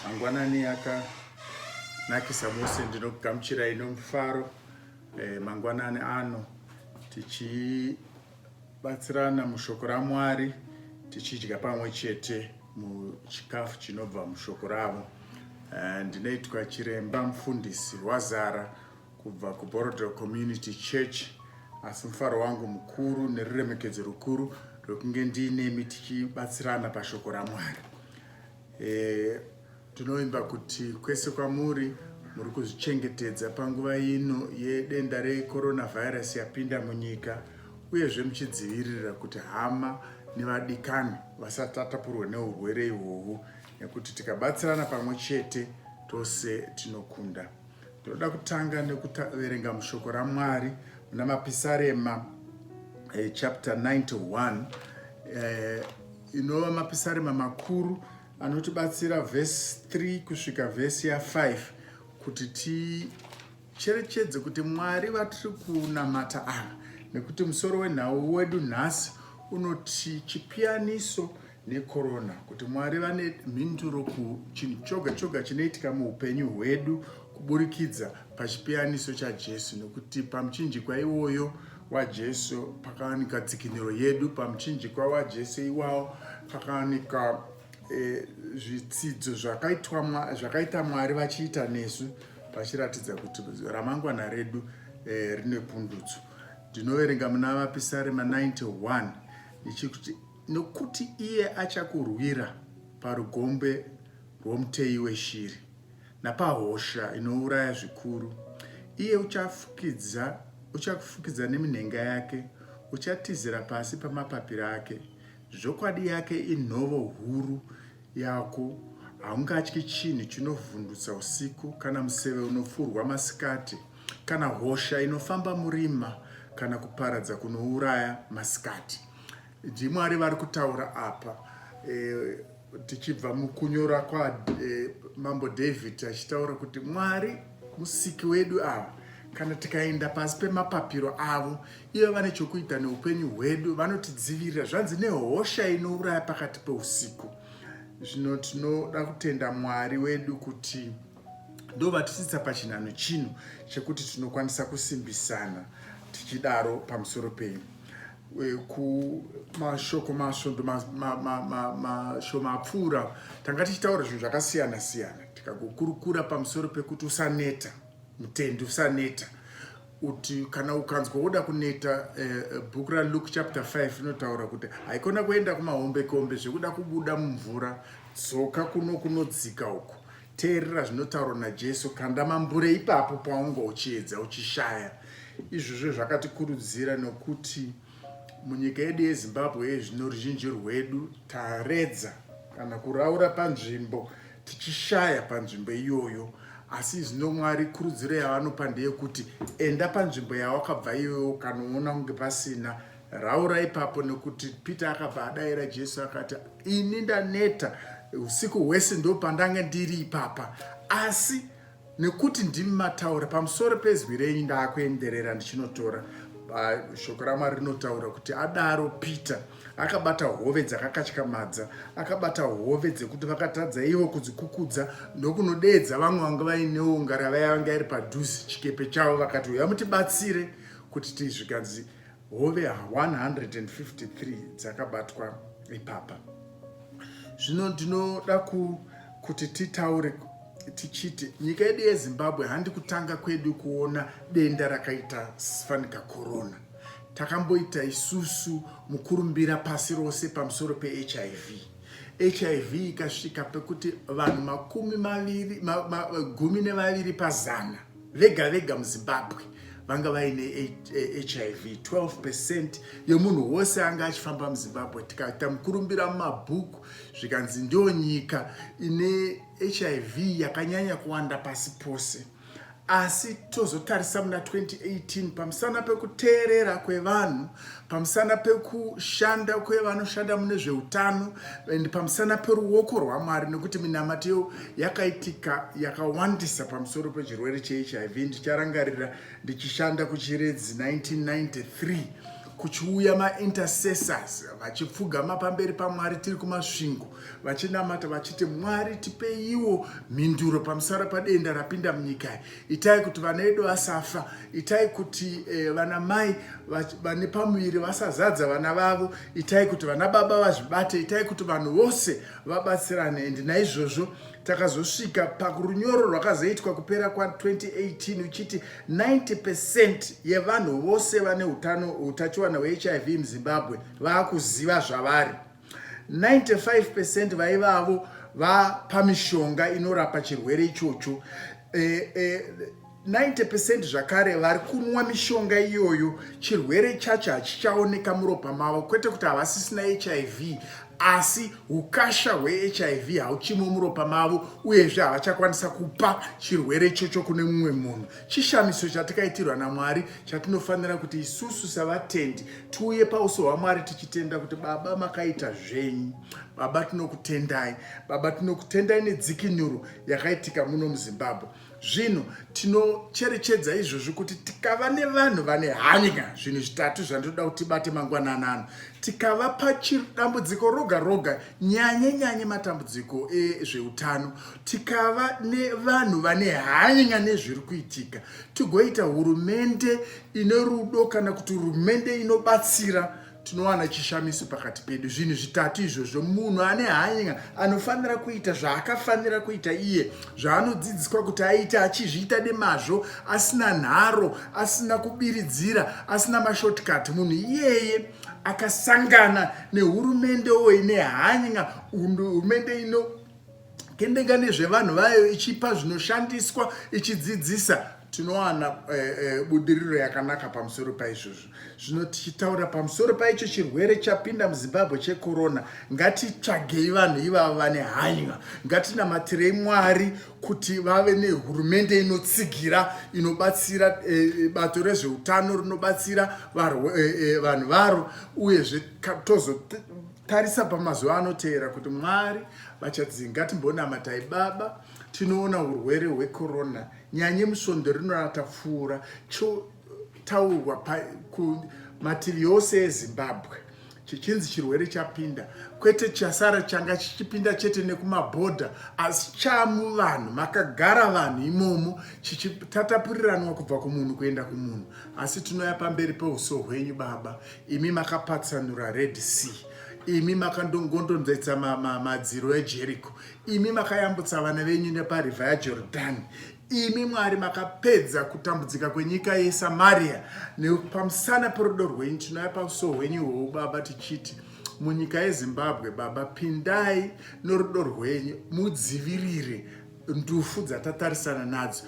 Mangwanani akanakisa mose ndinokugamuchirai nomufaro eh, mangwanani ano tichibatsirana mushoko raMwari tichidya pamwe chete muchikafu chinobva mushoko ravo. Eh, ndinoitwa chiremba mufundisi wazara kubva kuBorodero Community Church asi mufaro wangu mukuru neruremekedzo rukuru rwekunge ndiinemi tichibatsirana pashoko raMwari. Eh, tinovimba kuti kwese kwamuri muri kuzvichengetedza panguva ino yedenda recoronavirus yapinda munyika uyezve muchidzivirira kuti hama nevadikani vasati atapurwe neurwere ihwohwu nekuti tikabatsirana pamwe chete tose tinokunda Tinoda kutanga nekuverenga mushoko raMwari muna Mapisarema eh, chapter 91 eh, inova Mapisarema makuru anotibatsira vhesi 3 kusvika vhesi ya 5 kuti ticherechedze kuti Mwari vatiri kunamata ava nekuti musoro wenhau wedu nhasi unoti chipiyaniso nekorona kuti mwari vane mhinduro kuchinhu choga choga chinoitika muupenyu hwedu kuburikidza pachipiyaniso chajesu nekuti pamuchinjikwa iwoyo wajesu pakawanika dzikiniro yedu pamuchinjikwa wajesu iwawo pakawanika e, zvitsidzo zvakaita mwari vachiita nesu vachiratidza kuti ramangwana redu e, rine pundutso ndinoverenga muna vapisarema 91 ndichikuti Nokuti iye achakurwira parugombe rwomuteyi weshiri, napahosha inouraya zvikuru. Iye uchafukidza, uchakufukidza neminhenga yake, uchatizira pasi pamapapiro ake. Zvokwadi yake inhovo huru yako, haungatyi chinhu chinovhundutsa usiku, kana museve unofurwa masikati, kana hosha inofamba murima, kana kuparadza kunouraya masikati. ndimwari vari kutaura apa eh, tichibva mukunyora kwamambo eh, david achitaura kuti mwari musiki wedu ava kana tikaenda pasi pemapapiro avo ivo vane chokuita neupenyu hwedu vanotidzivirira zvanzi nehosha inouraya pakati peusiku zvino tinoda kutenda mwari wedu kuti ndovatisitsa pachinhano chino chekuti tinokwanisa kusimbisana tichidaro pamusoro penyu kumashoko masvondo mashoma apfuura tanga tichitaura zvinhu zvakasiyana siyana tikagokurukura pamusoro pekuti usaneta mutendi usaneta kuti kana ukanzwa woda kuneta eh, eh, bhuku raluke chapter 5 rinotaura kuti haikona kuenda kumahombekombe zvekuda kubuda mumvura dzoka kuno kunodzika uko Teerera zvinotaurwa naJesu, kanda mambure ipapo paunga uchiedza uchishaya. Izvozvo zvakatikurudzira nokuti munyika yedu yezimbabwe yezvino ruzhinji rwedu taredza kana kuraura panzvimbo tichishaya panzvimbo iyoyo asi zvino mwari kurudziro yavanopa ndeyekuti enda panzvimbo yawakabva iyoyo ukanoona kunge pasina Raura ipapo nokuti Peter akabva adaira Jesu akati, ini ndaneta usiku hwese ndopandange ndiri ipapa, asi nekuti ndimi mataura pamusoro pezwi renyu ndaakuenderera ndichinotora shoko ramwari rinotaura kuti adaro peter akabata hove dzakakatyamadza akabata hove dzekuti vakatadza ivo kudzikukudza ndokunodeedza vamwe vanga vainewo ngarava yavanga iri padhuze chikepe chavo vakati uya mutibatsire kuti tizvigadzi hove 153 dzakabatwa ipapa zvino ndinoda kuti titaure tichiti nyika yedu yezimbabwe handi kutanga kwedu kuona denda rakaita fanika corona takamboita isusu mukurumbira pasi rose pamusoro pehiv hiv ikasvika pekuti vanhu makumi maviri gumi nevaviri pazana vega vega muzimbabwe vanga vaine hiv 12 percent yemunhu wose anga achifamba muzimbabwe tikaita mukurumbira mumabhuku zvikanzi ndiyo nyika ine hiv yakanyanya kuwanda pasi pose asi tozotarisa muna 2018 pamusana pekuteerera kwevanhu pamusana pekushanda kwevanoshanda mune zveutano and pamusana peruoko rwamwari nekuti minamato yakaitika yakawandisa pamusoro pechirwere chehiv ndicharangarira ndichishanda kuchiredzi 1993 kuchiuya maintercessors vachipfugama pamberi pamwari tiri kumasvingo vachinamata vachiti mwari tipeiwo mhinduro pamusara padenda rapinda munyika itai kuti vana vedu vasafa itai kuti eh, vana mai vane pamuviri vasazadza vana vavo itai kuti vana baba vazvibate itai kuti vanhu vose vabatsirane and naizvozvo takazosvika parunyoro rwakazoitwa kupera kwa2018 uchiti 90 pecent yevanhu vose vane utano utachiwana hwehiv muzimbabwe vaakuziva zvavari 95 percent vaivavo vapamishonga inorapa chirwere ichocho eh, eh, 90 percent zvakare vari kunwa mishonga iyoyo chirwere chacho hachichaoneka muropa mavo kwete kuti havasisina hiv asi ukasha hwehiv hauchimo muropa mavo uyezve havachakwanisa kupa chirwere ichocho kune mumwe munhu chishamiso chatikaitirwa namwari chatinofanira kuti isusu savatendi tiuye pauso hwamwari tichitenda kuti baba makaita zvenyu baba tinokutendai baba tinokutendai nedzikinuro yakaitika muno muzimbabwe zvino tinocherechedza izvozvi kuti tikava nevanhu vane hanya zvinhu zvitatu zvandinoda kuti tibate mangwananano tikava pachidambudziko roga roga nyanye nyanye matambudziko ezveutano tikava nevanhu vane hanya nezviri kuitika tigoita hurumende ine rudo kana kuti hurumende inobatsira tinowana chishamiso pakati pedu zvinhu zvitatu izvozvo munhu ane hanya anofanira kuita zvaakafanira kuita iye zvaanodzidziswa kuti aite achizviita nemazvo asina nharo asina kubiridzira asina mashortcut munhu iyeye akasangana nehurumende oine hanya hurumende ino kendenga nezvevanhu vayo ichipa zvinoshandiswa ichidzidzisa tinowana eh, eh, budiriro yakanaka pamusoro paizvozvo zvino tichitaura pamusoro paicho chirwere chapinda muzimbabwe chekorona ngatitsvagei vanhu ivavo vane hanywa ngatinamatirei mwari kuti vave nehurumende inotsigira inobatsira eh, bato rezveutano rinobatsira vanhu varo uyezve tozo Tarisa pamazuva anoteera kuti Mwari vachadzii. Ngatimbonamatai Baba, tinoona hurwere hwekorona nyanye musvondo rino ratapfuura chotaurwa kumativi yose eZimbabwe chichinzi chirwere chapinda kwete chasara changa chichipinda chete nekumabhodha asi chamu vanhu makagara vanhu imomo chichitatapuriranwa kubva kumunhu kuenda kumunhu asi tinoya pamberi peuso hwenyu baba imi makapatsanura red sea imi makandongondonzaitsa madziro ejeriko imi makayambutsa vana venyu neparivha yajordani imi mwari makapedza kutambudzika kwenyika yesamariya nepamusana perudo rwenyu tinouya pauso hwenyu hwou baba tichiti munyika yezimbabwe baba pindai norudo rwenyu mudzivirire ndufu dzatatarisana nadzo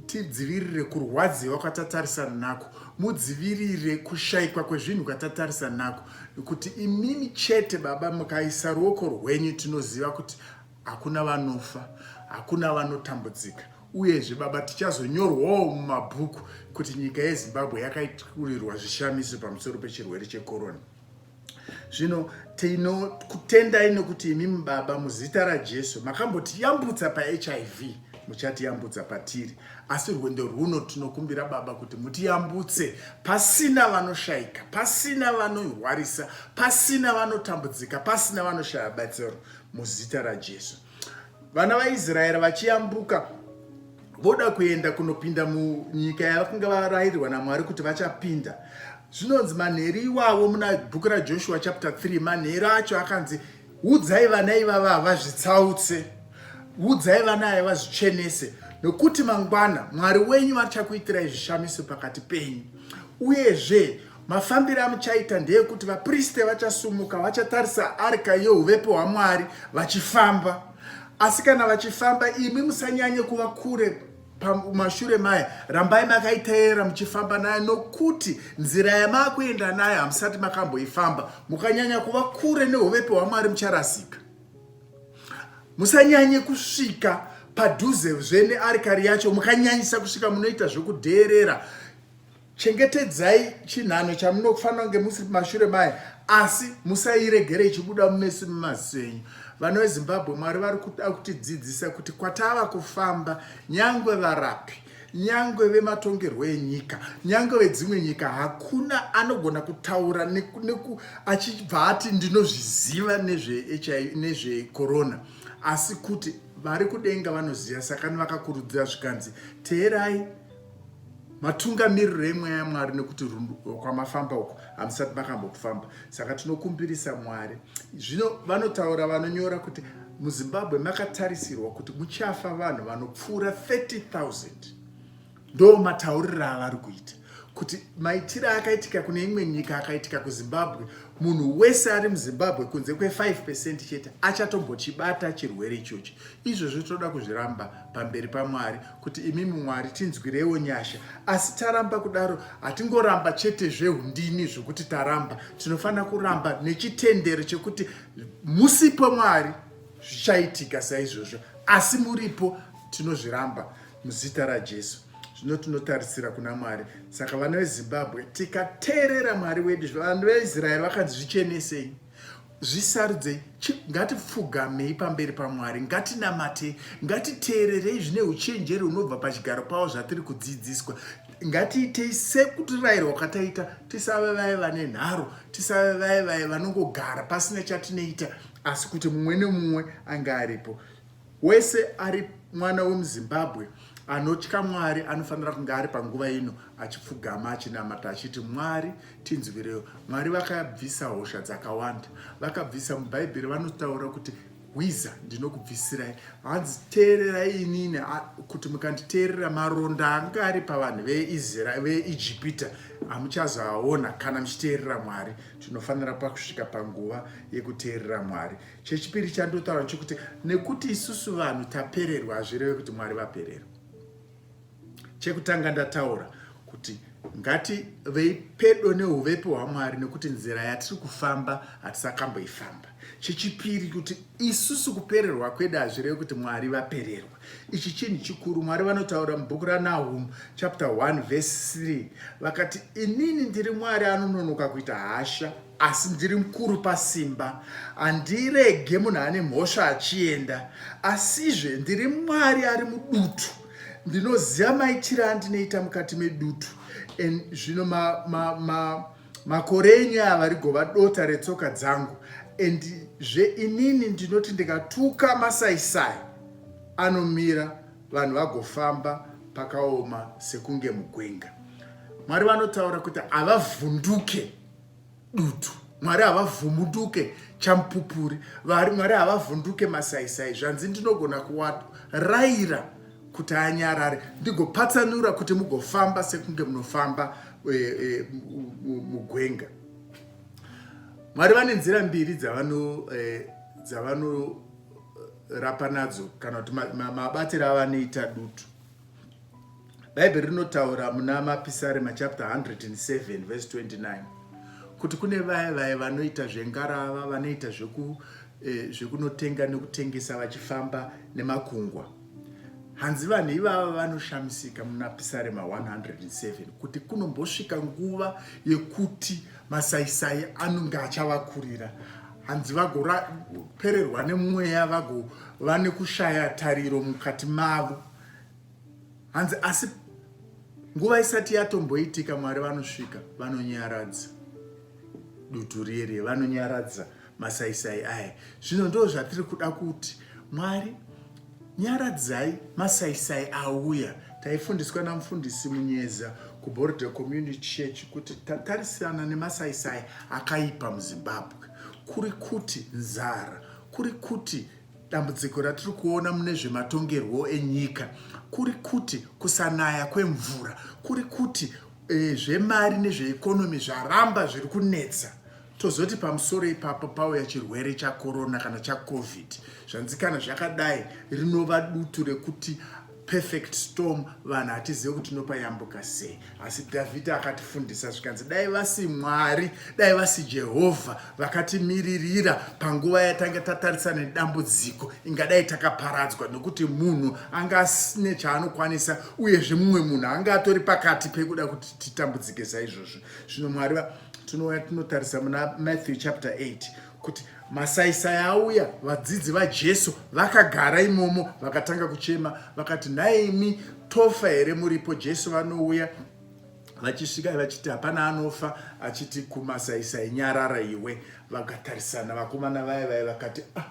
tidzivirire kurwadziwa kwatatarisana nako mudzivirire kushaikwa kwezvinhu kwatatarisana nako kuti imimi chete baba mukaisa ruoko rwenyu tinoziva kuti hakuna vanofa hakuna vanotambudzika uyezve baba tichazonyorwawo mumabhuku kuti nyika yezimbabwe yakaiturirwa zvishamiso pamusoro pechirwere chekorona Zvino tinokutendai nokuti imi mubaba muzita raJesu makambotiyambutsa paHIV muchatiyambutsa patiri asi rwendo rwuno tinokumbira baba kuti mutiyambutse pasina vanoshaika pasina vanorwarisa pasina vanotambudzika pasina vanoshaya batsiro muzita raJesu vana vaisraeri vachiyambuka voda kuenda kunopinda munyika yavakunga varayirirwa namwari kuti vachapinda zvinonzi manheru iwavo muna bhuku rajoshua chapter 3 manheru acho akanzi udzai vana ivava havazvitsautse udzai vana aya vazvichenese nokuti mangwana mwari wenyu vachakuitirai zvishamiso pakati penyu uyezve Mafambiro amuchaita ndeekuti vapriste vachasumuka vachatarisa arka yeuvepo hwaMwari vachifamba. Asi kana vachifamba, imi musanyanye kuva kure pamashure maye, rambai makaiteerera muchifamba nayo, nokuti nzira yamakuenda nayo hamusati makamboifamba. Mukanyanya kuva kure neuvepo hwaMwari mucharasika. Musanyanye kusvika padhuze zve nearikari yacho, mukanyanyisa kusvika munoita zvekudheerera Chengetedzai chinhano chamunofanira kunge musiri mashure maye, asi musairegere ichibuda mumeso memaziso enyu. Vana veZimbabwe, Mwari vari kuda kutidzidzisa kuti kwatava kufamba, nyangwe varapi, nyangwe vematongerwo enyika, nyangwe vedzimwe nyika, hakuna anogona kutaura neku, neku, achibva ati ndinozviziva nezvekorona nezve asi kuti vari kudenga vanoziva, sakani vakakurudzira zvikanzi teerai matungamiriro emweya yamwari nekuti kwamafamba uko hamusati makambokufamba saka tinokumbirisa mwari zvino vanotaura vanonyora kuti muzimbabwe makatarisirwa kuti muchafa vanhu vanopfuura 30000 ndo matauriro avari kuita kuti maitiro akaitika kune imwe nyika akaitika kuzimbabwe munhu wese ari muzimbabwe kunze kwe5 pecent chete achatombochibata chirwere ichochi izvozvo toda kuzviramba pamberi pamwari kuti imimi Mwari tinzwirewo nyasha. Asi taramba kudaro hatingoramba chete zvehundini zvekuti taramba. Tinofanira kuramba nechitendero chekuti musipo Mwari zvichaitika saizvozvo. Asi muripo tinozviramba muzita raJesu. Zvino tinotarisira kuna Mwari. Saka vana veZimbabwe tikateerera Mwari wedu, vanhu veIsraeri vakanzi zvichenesei. zvisarudzei ngatipfugamei pamberi pamwari ngatinamatei ngatiteererei zvine uchenjeri unobva pachigaro pavo zvatiri kudzidziswa ngatiitei sekutirayirwa kwataita tisave vaye vane nharo tisave vaye vaye vanongogara pasina chatinoita asi kuti mumwe nemumwe ange aripo Wese ari mwana wemuZimbabwe anotya Mwari anofanira kunge ari panguva ino achipfugama achinamata achiti Mwari tinzwirewo. Mwari vakabvisa hosha dzakawanda, vakabvisa muBhaibheri vanotaura kuti hwiza ndinokubvisirai hanzi teererai inini kuti mukanditeerera maronda anga ari pavanhu veisrael veijipita hamuchazoaona kana muchiteerera mwari tinofanira pakusvika panguva yekuteerera mwari Chechipiri chandotaura chokuti nekuti isusu vanhu tapererwa hazvireve kuti Mwari vapererwa. Chekutanga ndataura kuti ngati vei pedo neuvepo hwaMwari nekuti nzira yatiri kufamba hatisakamboifamba. Chechipiri kuti isusu kupererwa kwedu hazvireve kuti Mwari vapererwa. Ichi chinhu chikuru Mwari vanotaura mubhuku raNahum chapter 1 verse 3 vakati inini ndiri Mwari anononoka kuita hasha asi ndiri mukuru pasimba handirege munhu ane mhosva achienda asizve ndiri mwari ari mudutu ndinoziva maitiro andinoita mukati medutu and zvino makore ma, ma, ma enyu aya varigova dota retsoka dzangu and zve inini ndinoti ndikatuka masaisai anomira vanhu vagofamba pakaoma sekunge mugwenga mwari vanotaura kuti havavhunduke dutu mwari havavhunduke champupuri vari mwari havavhunduke masaisai zvanzi ndinogona kuwaraira kuti anyarare ndigopatsanura kuti mugofamba sekunge munofamba e, e, mugwenga mwari vane nzira mbiri dzavano e, dzavanorapa nadzo kana kuti mabatiro avanoita dutu Bhaibheri rinotaura muna Mapisarema chapter 107 verse 29 kuti kune vaya vaya vanoita zvengarava, vanoita zveku eh, zvekunotenga nekutengesa vachifamba nemakungwa. Hanzi vanhu ivava vanoshamisika muna Pisarema 107 kuti kunombosvika nguva yekuti masaisai anonge achavakurira hanzi vagopererwa nemweya vagova nekushaya tariro mukati mavo hanzi asi nguva isati yatomboitika mwari vanosvika vanonyaradza dutu riye riye vanonyaradza masaisai aya zvino ndo zvatiri kuda kuti mwari nyaradzai masaisai auya taifundiswa namufundisi munyeza kuborder community church kuti tatarisirana nemasaisai akaipa muzimbabwe kuri kuti nzara kuri kuti Dambudziko ratiri kuona mune zvematongerwo enyika kuri kuti kusanaya kwemvura, kuri kuti e, zvemari nezveekonomi zvaramba zviri kunetsa tozoti pamusoro ipapo pauya chirwere chakorona kana chacovid zvanzikana zvakadai rinova dutu rekuti perfect storm vanhu hatizive kuti tinopayambuka sei asi dhavhidha akatifundisa zvikanzi dai vasi mwari dai vasi jehovha vakatimiririra panguva yatanga tatarisana nedambudziko ingadai takaparadzwa nokuti munhu anga asine chaanokwanisa uyezve mumwe munhu anga atori pakati pekuda kuti titambudzike saizvozvo zvino mwari tinouya tinotarisa muna matthew chapter 8 kuti masaisai auya vadzidzi vajesu vakagara imomo vakatanga kuchema vakati nhai imi tofa here muripo jesu vanouya vachisvika vachiti hapana anofa achiti kumasaisai nyarara iwe vakatarisana vakomana vaya vaya vakati ah,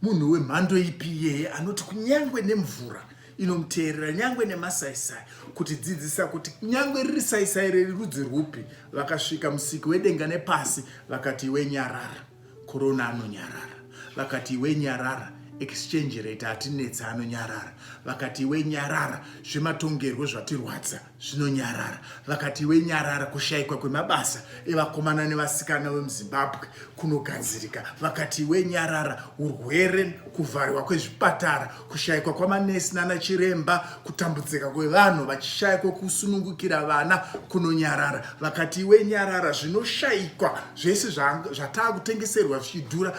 munhu wemhando ipi iyeye anoti kunyange nemvura inomuteerera nyangwe nemasaisai kuti dzidzisa kuti nyangwe riri saisai reri rudzi rwupi vakasvika musiki wedenga nepasi vakati iwe nyarara korona anonyarara vakati iwe nyarara exchange rate hatinetsa anonyarara vakati iwe nyarara zvematongerwo zvatirwadza zvino nyarara vakati iwe nyarara kushayikwa kwemabasa evakomana nevasikana vemuzimbabwe kunogadzirika vakati iwe nyarara urwere kuvhariwa kwezvipatara kushayikwa kwamanesi nana chiremba kutambudzika kwevanhu vachishaya kwekusunungukira vana kunonyarara vakati iwe nyarara zvinoshayikwa zvese zvataa kutengeserwa zvichidhura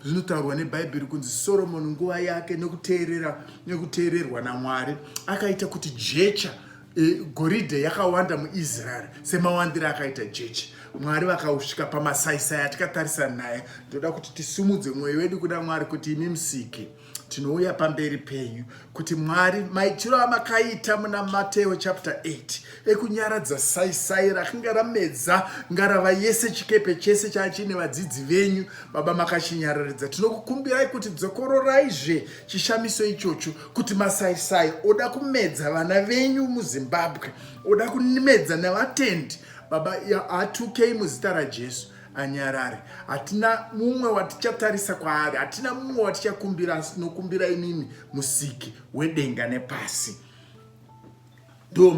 zvinotaurwa nebhaibheri kunzi soromoni nguva yake nekuteerera nekuteererwa namwari akaita kuti jecha e, goridhe yakawanda muisraeri semawandiro akaita jecha mwari vakausvika pamasaisai atikatarisa naye ndoda kuti tisimudze mwoyo wedu kuda mwari kuti imi musiki tinouya pamberi penyu kuti mwari maitiro amakaita muna mateo chapter 8 ekunyaradza saisai rakanga ramedza ngarava yese chikepe chese chaachiine vadzidzi venyu baba makachinyararidza tinokukumbirai kuti dzokororayizve chishamiso ichocho kuti masaisai oda kumedza vana venyu muzimbabwe oda kumedza nevatendi baba atukei muzita rajesu anyarare hatina mumwe watichatarisa kwaari hatina mumwe watichakumbira asi tinokumbira imimi musiki wedenga nepasi ndo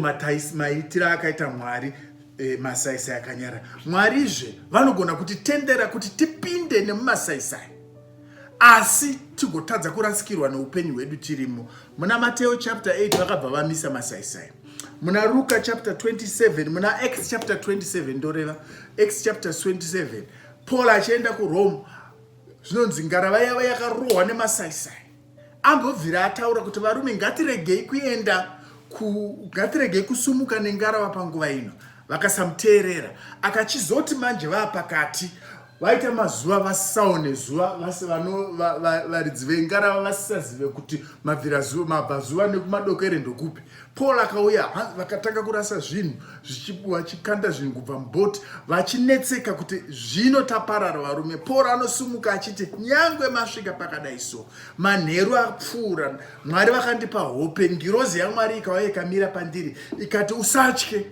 maitiro akaita mwari e, masaisai akanyara mwarizve vanogona kuti tendera kuti tipinde nemumasaisai asi tigotadza kurasikirwa neupenyu hwedu tirimo muna mateo chapter 8 vakabva vamisa masaisai muna ruka chapter 27 muna acts chapter 27 ndoreva acts chapter 27 paul achienda kurome zvinonzi ngarava yava yakarohwa nemasaisai ambobvira ataura kuti varume ngatiregei kuenda ngatiregei kusumuka nengarava panguva ino vakasamuteerera akachizoti manje vaapakati vaita mazuva vasisaone zuva vasi varidzi vengarava vasisazive kuti mabvazuva nekumadokere ndokupi Paul akauya vakatanga kurasa zvinhu vachikanda zvinhu kubva mubhoti vachinetseka kuti zvino taparara varume. Paul anosumuka achiti nyangwe masvika pakadai so manheru apfuura Mwari vakandipa hope ngirozi yaMwari ikauya ikamira pandiri ikati usatye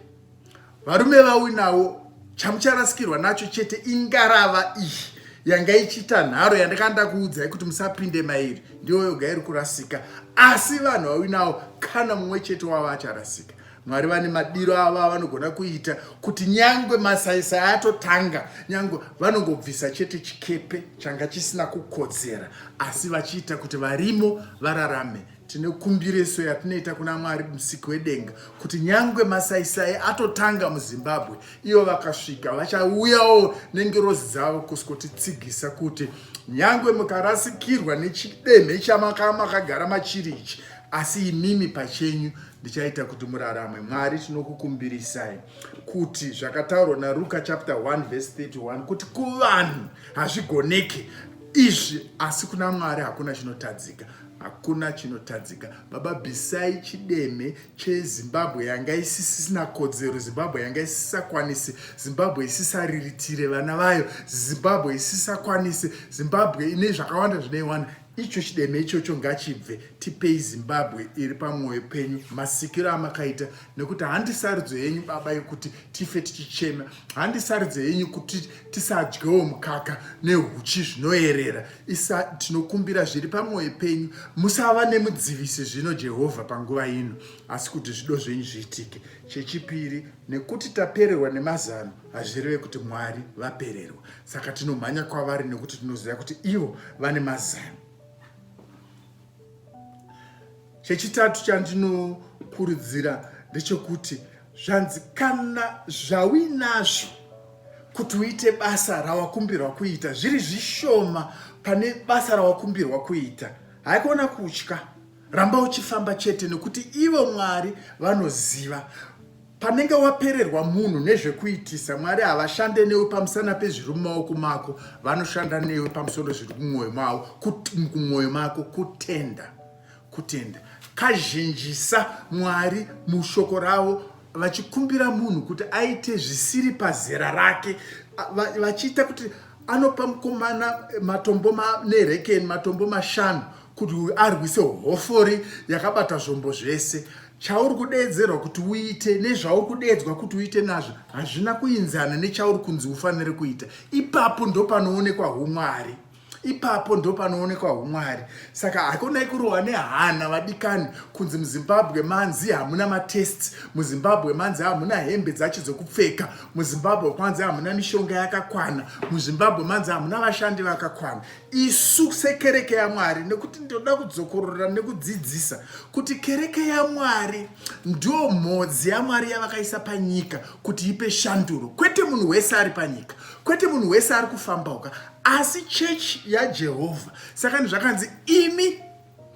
varume vauinawo chamucharasikirwa nacho chete ingarava iyi yanga ichiita nharo yandakanda kuudzai kuti musapinde mairi ndiyo yoga iri kurasika asi vanhu vauinawo kana mumwe chete wavo acharasika mwari vane madiro avo avanogona kuita kuti nyangwe masaisai atotanga nyangwe vanongobvisa chete chikepe changa chisina kukodzera asi vachiita kuti varimo vararame Tine kumbireso yatinoita kuna Mwari musiki wedenga kuti nyangwe masaisai atotanga muZimbabwe ivo vakasvika vachauyawo nengirozi dzavo kuswotitsigisa kuti nyangwe mukarasikirwa nechidemhe chamamakagara machiri ichi asi imimi pachenyu ndichaita kuti murarame mwari tinokukumbirisai kuti zvakataurwa naruka chapter 1 vese 31 kuti kuvanhu hazvigoneke izvi asi kuna mwari hakuna chinotadzika Hakuna chinotadzika baba bisai chideme chezimbabwe yanga isisina kodzero zimbabwe yanga isisakwanisi zimbabwe isisariritire vana vayo zimbabwe isisakwanisi zimbabwe ine zvakawanda zvinoiwana icho chideme ichocho ngachibve tipei zimbabwe iri pamwoyo penyu masikiro amakaita nekuti handi sarudzo yenyu baba yekuti tife tichichema handi sarudzo yenyu kuti tisadyewo mukaka nehuchi zvinoerera isa tinokumbira zviri pamwoyo penyu musava nemudzivisi zvino jehovha panguva ino asi kuti zvido zvenyu zviitike chechipiri nekuti tapererwa nemazano hazvireve kuti mwari vapererwa saka tinomhanya kwavari nekuti tinoziva kuti ivo vane mazano chechitatu chandinokurudzira ndechekuti Zvanzi kana zvauinazvo kuti uite basa rawakumbirwa kuita zviri zvishoma pane basa rawakumbirwa kuita, haikona kutya, ramba uchifamba chete nekuti ivo Mwari vanoziva. Panenge wapererwa munhu nezvekuitisa, Mwari havashande newe pamusana pezviri mumaoko mako, vanoshanda newe pamusoro zviri kumwoyo mavo, kumwoyo mako kutenda kutenda kazhinjisa mwari mushoko ravo vachikumbira munhu kuti aite zvisiri pazera rake vachiita kuti anopa mukomana matombo manerekeni matombo mashanu kuti uyu arwise hofori yakabata zvombo zvese chauri kudeedzerwa kuti uite nezvauri kudeedzwa kuti uite nazvo hazvina kuinzana nechauri kunzi ufanire kuita ipapo ndopanoonekwa umwari ipapo ndo panoonekwa humwari saka hakonai kurohwa nehana vadikani kunzi muzimbabwe manzi hamuna matest muzimbabwe manzi hamuna hembe dzacho dzokupfeka muzimbabwe kwanzi hamuna mishonga yakakwana muzimbabwe manzi hamuna vashandi vakakwana isu sekereke yamwari nekuti ndinoda kudzokorora nekudzidzisa kuti kereke yamwari ndo mhodzi yamwari yavakaisa panyika kuti ipe shanduro kwete munhu wese ari panyika kwete munhu wese ari kufambauka asi chechi yajehovha saka ni zvakanzi imi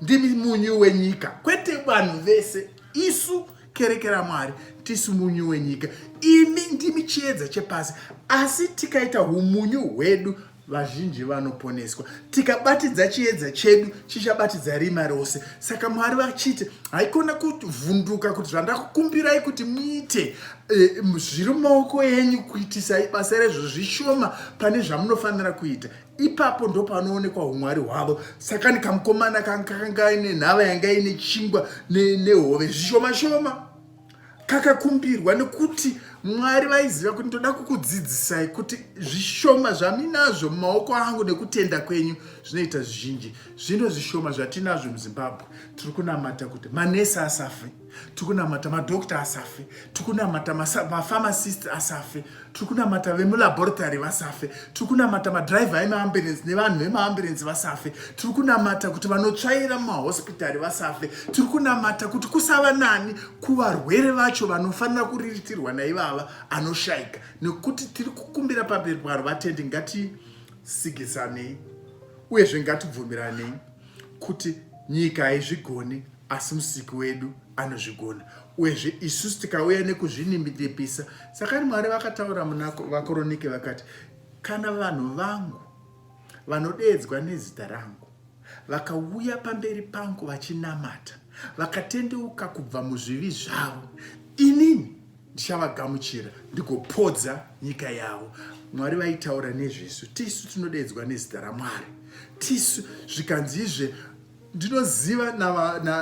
ndimi munyu wenyika kwete vanhu vese isu kerekera mwari tisu munyu wenyika imi ndimi chiedza chepasi asi tikaita umunyu hwedu vazhinji vanoponeswa tikabatidza chiedza chedu chichabatidza rima rose saka mwari vachiti haikona kuvhunduka kuti zvandakukumbirai kuti muite Eh, zviri mumaoko enyu kuitisai basa rezvo zvishoma pane zvamunofanira kuita ipapo ndopanoonekwa umwari hwavo saka ni kamukomana kakanga aine nhava yanga ine chingwa nehove zvishoma shoma kakakumbirwa nekuti mwari vaiziva kuti ndoda kukudzidzisai kuti zvishoma zvaminazvo mumaoko angu nekutenda kwenyu zvinoita zvizhinji zvino zvishoma zvatinazvo muzimbabwe tiri kunamata kuti manesi asafe tikunamata madoctor asafe tikunamata mapharmacist asafe tikunamata vemulaboratory vasafe tikunamata madriver emaambulensi nevanhu vemaambulensi vasafe tiri kunamata kuti vanotsvaira mumahospitari vasafe tiri kunamata kuti kusava nani kuvarwere vacho vanofanira kuriritirwa naivava anoshayika nekuti tiri kukumbira pamberi paro vatendi ngatisigisanei uyezve ngatibvumiranei kuti nyika haizvigoni asi musiki wedu anozvigona uyezve isusu tikauya nekuzvinimidepisa sakani mwari vakataura munavakoronike vakati kana vanhu vangu vanodeedzwa nezita rangu vakauya pamberi pangu vachinamata vakatendeuka kubva muzvivi zvavo inini ndichavagamuchira ndigopodza nyika yavo mwari vaitaura nezvesu tisu tinodeedzwa nezita ramwari tisu zvikanzizve Ndinoziva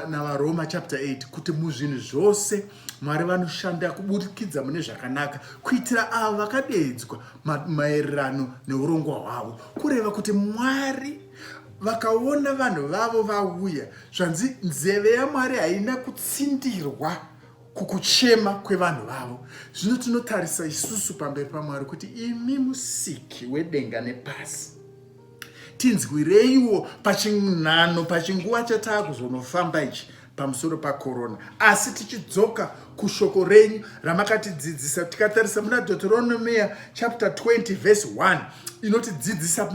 naVaRoma chapter 8 kuti muzvinhu zvose Mwari vanoshanda kuburikidza mune zvakanaka kuitira avo vakadeedzwa maererano neurongwa hwavo, kureva kuti Mwari vakaona vanhu vavo vauya. Zvanzi nzeve yaMwari haina kutsindirwa kukuchema kwevanhu vavo. Zvino tinotarisa isusu pamberi paMwari kuti imi musiki wedenga nepasi tinzwireiwo pachinano pachinguva chataa kuzonofamba ichi pamusoro pakorona asi tichidzoka kushoko renyu ramakatidzidzisa tikatarisa muna deuteronomia chapter 20 verse 1 inotidzidzisa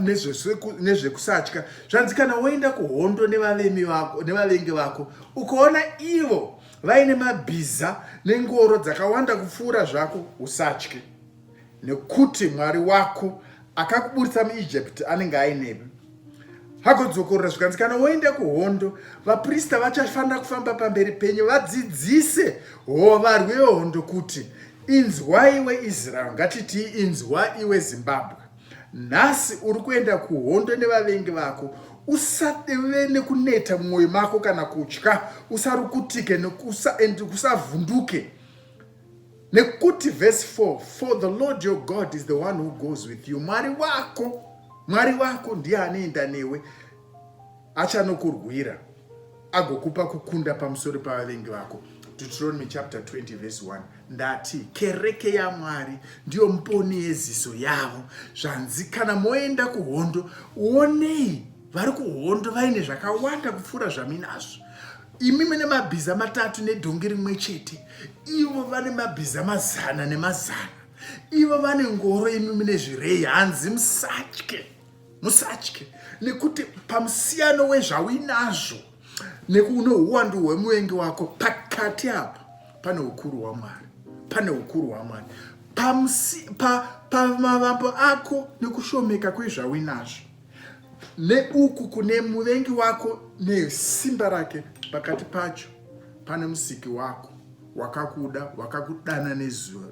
nezvekusatya zvanzi kana woenda kuhondo nevavemi vako nevavengi vako ukaona ivo vaine mabhiza nengoro dzakawanda kupfuura zvako usatye nekuti mwari wako akakuburitsa muijipiti anenge ainemi hagodzokorora zvikanzi kana woenda kuhondo vaprista vachafanira kufamba pamberi penyu vadzidzise hovarwi vehondo kuti inzwa iwe israel ngatitii inzwa iwe zimbabwe nhasi uri kuenda kuhondo nevavengi vako usadeve nekuneta mumwoyo mako kana kutya usarukutike and usavhunduke nekuti verse 4 for the lord your god is the one who goes with you mwari wako mwari wako ndiye anoenda newe achanokurwira agokupa kukunda pamusoro pavavengi vako deuteronomy chapter 20 verse 1 ndati kereke yamwari ndiyo mponi yeziso yavo zvanzi kana moenda kuhondo onei vari kuhondo vaine zvakawanda kupfuura zvaminazvo imi mune mabhiza matatu nedhongi rimwe chete ivo vane mabhiza mazana nemazana ivo vane ngoro imi mune zvirei hanzi musatye musatye nekuti pamusiyano wezvauinazvo nekuune uwandu hwemuvengi wako pakati apa pane ukuru hwamwari pane ukuru hwamwari pamavambo pa, pa, ako nekushomeka kwezvauinazvo neuku kune muvengi wako nesimba rake pakati pacho pane musiki wako wakakuda wakakudana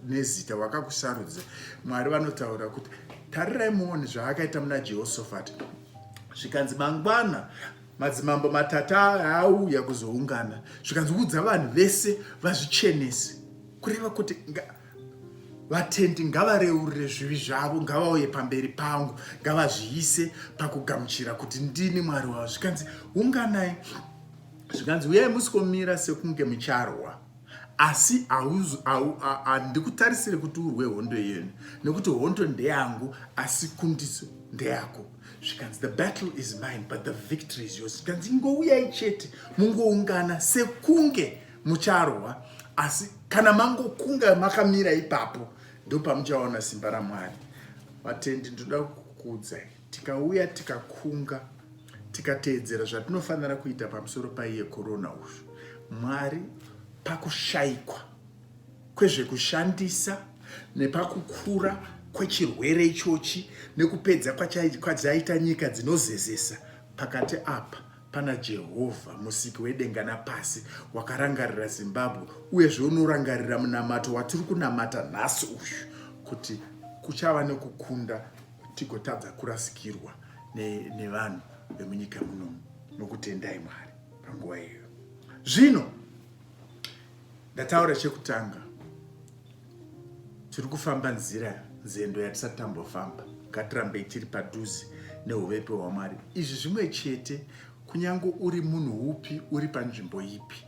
nezita wakakusarudza mwari vanotaura kuti tarirai muone zvaakaita muna jehosofati zvikanzi mangwana madzimambo matatu aauya kuzoungana zvikanzi udza vanhu vese vazvichenese kureva kuti vatendi ngavareurire zvivi zvavo ngavauye pamberi pangu ngavazviise pakugamuchira kuti ndini mwari wavo zvikanzi unganai zvikanzi uyai musikomira sekunge mucharwa asi handikutarisire kuti urwe hondo yenu nekuti hondo ndeyangu asi kundiso ndeyako zvikanzi the battle is mine but the victory is yours zvikanzi ingouyai chete mungoungana sekunge mucharwa asi kana mangokunga makamira ipapo ndopamuchaona simba ramwari vatendi ndoda kukudza tikauya tikakunga tikateedzera zvatinofanira kuita pamusoro paiye korona uzvo mwari pakushayikwa kwezvekushandisa nepakukura kwechirwere ichochi nekupedza kwachaita nyika dzinozezesa pakati apa Pana Jehovha, musiki wedenga napasi, wakarangarira Zimbabwe, uyezve unorangarira munamato watiri kunamata nhasi uyu, kuti kuchava nekukunda tigotadza kurasikirwa nevanhu ne vemunyika munomu nokutendai Mwari panguva iyoyo. Zvino ndataura chekutanga tiri kufamba nzira nzendo yatisati tambofamba ngatirambei tiri padhuze neuvepe hwamwari izvi zvimwe chete kunyange uri munhu upi uri panzvimbo ipi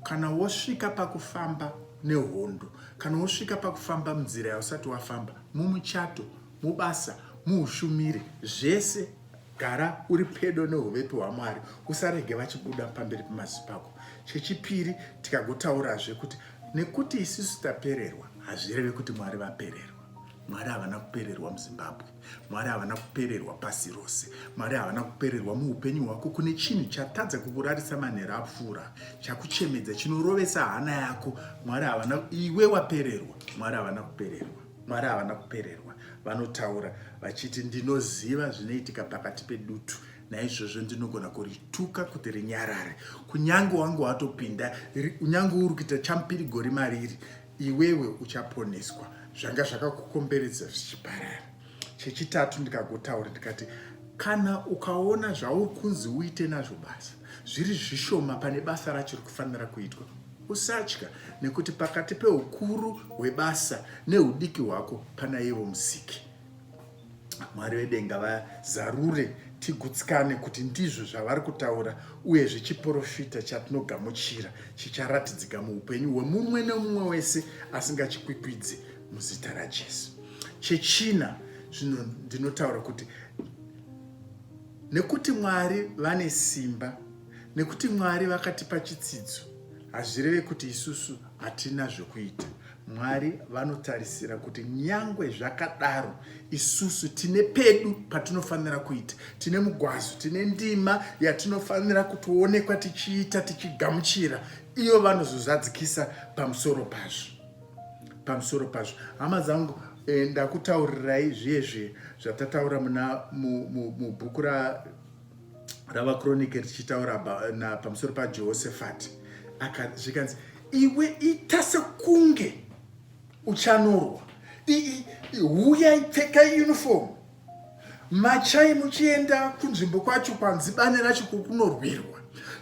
kana wosvika pakufamba nehondo kana wosvika pakufamba munzira yausati wafamba mumuchato mubasa muushumiri zvese Gara uri pedo neuvepi hwaMwari, usarege vachibuda pamberi pemaziso pako. Chechipiri, tikagotaurazve kuti nekuti isisu tapererwa hazvireve kuti Mwari vapererwa. Mwari havana kupererwa muZimbabwe, Mwari havana kupererwa pasi rose, Mwari havana kupererwa muupenyu hwako. Kune chinhu chatadza kukurarisa manhero apfuura, chakuchemedza, chinorovesa hana yako, Mwari havana, iwe wapererwa, Mwari havana kupererwa. Mwari havana kupererwa, vanotaura vachiti, Ndinoziva zvinoitika pakati pedutu, naizvozvo ndinogona kurituka kuti rinyarare. Kunyange wangu watopinda, kunyange uri kuita champiri gori mariri, iwewe uchaponeswa. Zvanga zvakakukomberedza zvichiparara. Chechitatu ndikagotaura ndikati, kana ukaona zvauri kunzi uite nazvo basa, zviri zvishoma pane basa racho rikufanira kuitwa. Usatya, nekuti pakati peukuru hwebasa neudiki hwako pana ivo musiki. Mwari vedenga vazarure tigutsikane kuti ndizvo zvavari kutaura uye zvechiporofita chatinogamuchira chicharatidzika muupenyu hwemumwe nemumwe wese asingachikwikwidzi muzita rajesu chechina zvino ndinotaura kuti Nekuti Mwari vane simba, nekuti Mwari vakatipa chitsidzo, hazvireve kuti isusu hatina zvekuita. Mwari vanotarisira kuti nyangwe zvakadaro isusu tine pedu patinofanira kuita, tine mugwazo, tine ndima yatinofanira kutoonekwa tichiita, tichigamuchira, iyo vanozozadzikisa pamusoro pazvo. pamusoro pazvo hama dzangu eh, ndakutaurirai zviye zviye zvatataura muna mubhuku mu, mu ravakronike richitaura pamusoro pajehoshafati zvikanzi iwe ita sekunge uchanorwa huyai pfekai uniform Machai muchienda kunzvimbo kwacho kwanzi bani racho kukunorwirwa.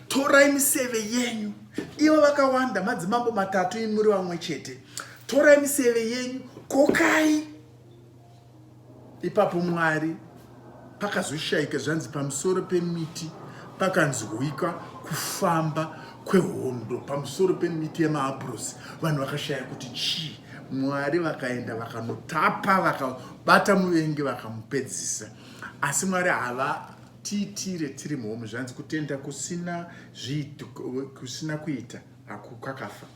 Torai miseve yenyu. Ivo vakawanda madzimambo matatu imuri vamwe chete. Torai miseve yenyu, kokai. Ipapo Mwari pakazoshaika zvanzi pamusoro pemiti pakanzwika kufamba kwehondo pamusoro pemiti yemaabhurosi vanhu vakashaya kuti chii mwari vakaenda vakanotapa bata muvengi vakamupedzisa asi mwari hava tiitire tiri muhomu zvanzi kutenda kusina zviito kusina kuita kwakafa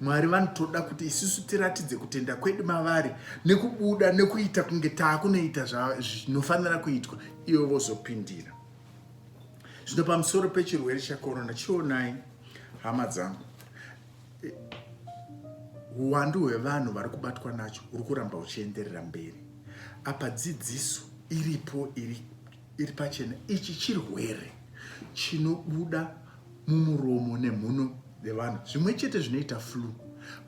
mwari vanotoda kuti isusu tiratidze kutenda kwedu mavari nekubuda nekuita kunge taakunoita zvinofanira kuitwa ivo vozopindira zvino pamusoro pechirwere chekorona chionai hama dzangu eh, huwandu hwevanhu vari kubatwa nacho huri kuramba huchienderera mberi apa dzidziso iripo iri, iri pachena ichi chirwere chinobuda mumuromo nemhuno dzevanhu zvimwe chete zvinoita flu